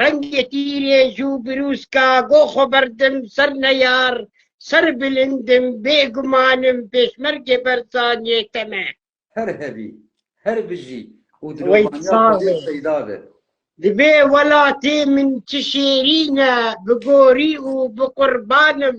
Rengê tîrê jû birûska go xwe berdim ser neyar, ser bilind im, bêguman im pêşmergê Berçaniyê te me. Her hebî, her bijî û dilovaniya Xwedê peyda be. Divê welatê min çi şêrîn e, bi gorî û bi qurban im.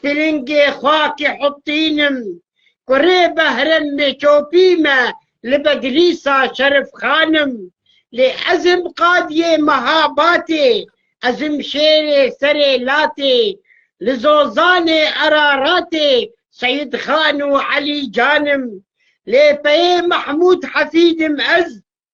Tilingê xakê Hutîn im ku rê Behrem Mêçopî me li Bedlîsa Şerif Xan im. Lê ez im qadiyê meha batê, ez im şêrê serê latê, li Zozanê Eraratê Seyîd Xan û Elî Can im. Lê peyê Mehmûd Hefîd im ez,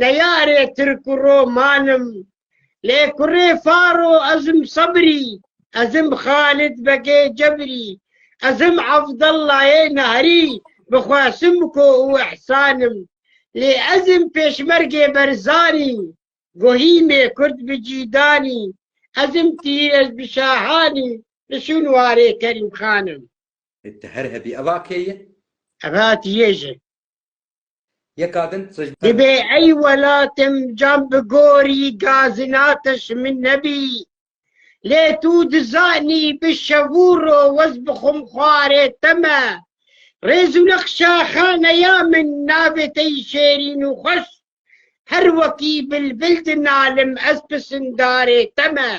Neyarê Tirk û Roman im. Lê kurê Faro ez im Sebrî, ez im Xalid Begê Cebrî, ez im Evdellayê Nehrî bi xwe Simko û Îhsan im. Lê ez im Pêşmergê Berzanî, Gohîmê Kurd bi Cîdanî, ez im Tîrez bi Şahanî, li Şûnwarê Kerîmxan im. Ti her hebî eva kê ye? Eva ti yê ji. Yeka din tij Divê ey welatim cam bi gorî gazinatiş min nebî. Lê tu dizanî bi şev û ro wez bixwim xwarê te me. Rêz û neqşa xaneya min navê te yî şêrîn û xweş. Her wekî bilbil dinalim ez pisindarê te me.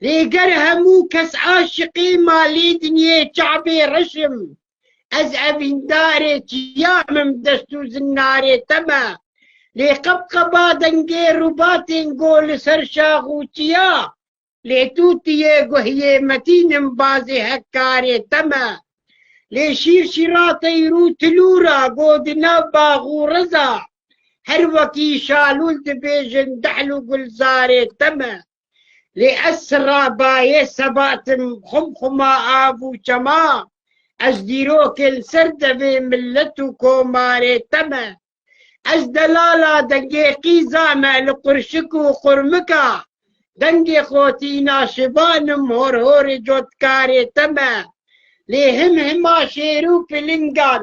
Lê ger hemû kes aşiqê malê dinyê çavê reş im, ez evîndarê çiya im dest û zinnarê te me. Lê qebqeba dengê rûbatên go li ser şax û çiya, lê tu tiyê guhiyê metîn im bazê hekkarê te me. Lê şîrşîratey rû tilûra go di nav bax û reza, Her wekî şalûn dibêjin dehl û gulzarê te me. Lê ez sirra bayê sebatim xum xuma av û çema, ez dîrokên ser devê milet û komarê te me. Ez delala dengê qîza me li qurşik û qurmika, dengê xotîna şivan im hor horê cotkarê te me. Lê him hima şêr û pilingan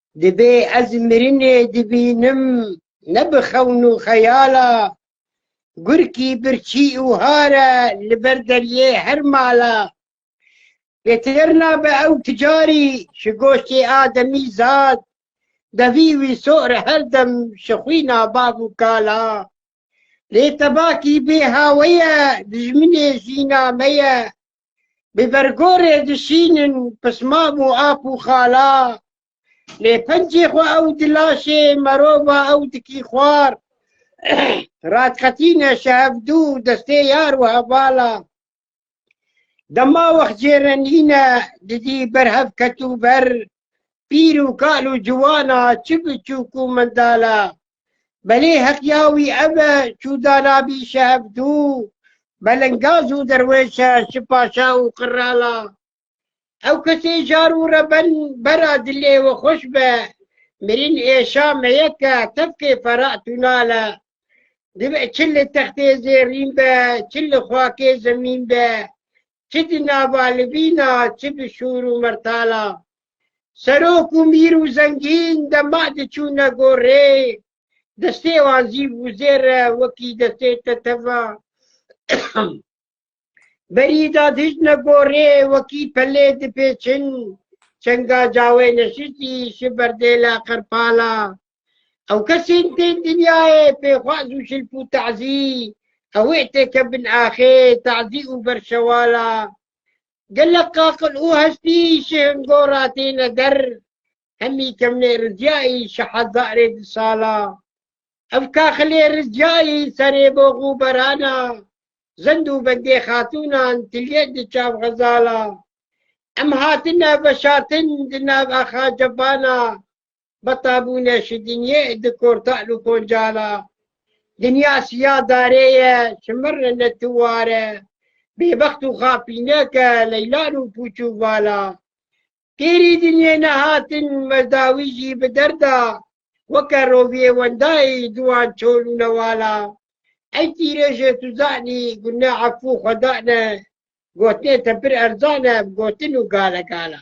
Dibê ez mirinê dibînim ne bi xewn û xeyala Gurkî birçî û hare li ber deriyê her mala Pêtir nabe ew ti carî ji goştê ademî zad Devî wî so're her dem ji xwîna bav û kala Lê tebakî bê haweye dijminê jîna me ye Bi bergorê dişînin pismam û ap û xala Lê pencê xwe ew di laşê merova ew dikî xwar Radiqetîne şehevdû destê yar û hevala Dema wext cêrenîne didî ber hev ketû ber Pîr û kal û ciwana, çi biçûk û mindala. Belê heqya wî ev e, çûda nabî şehevdû, belingaz û derwêş e, şi paşa û qirala. Ew kesê jar û reben, bera dilê we xweş be, mirîn êşa meyek e, tevkê fera tûnal e. Dibe çi li textê zêrîn be, çi li xakê zemîn be, çi di navalivîn a çi di şûr û mertala serok û mîr û zengîn de ma diçûne gorê, destê wan zî wizêr e wekî destê te teva. Berî da dijne gorê wekî pelê dipêçin, çenga cawê neşistî şi berdêla qerpala Ew kesên tên dinyayê pêxwaz û şilp û tazî ewê têke bin axê, tazî û berşewala. Gelek qaqil û hestî ji hingora têne der, hemî kemnê rizyayî ji hezarê di sala. Ev kaxilê rizyayî serê box û berana, zend û bendê xatûnan tilye di çav xezala. Em hatine veşartin di nav axa cebana, Betabûne şi dinyê di kortal û koncala. Dinya siya darê ye, şimir re ne tu ware. Bêbext û xapînek e, leylan û pûç û vala. Têrî dinyê nehatin, mezdawî jî bi derda. Weke roviyê wendayî, duwan çol û newala. Ey tîrê jê tu zanî, gune efû xwe dane. Gotinê te pir erzan e, bi gotin û gale gala.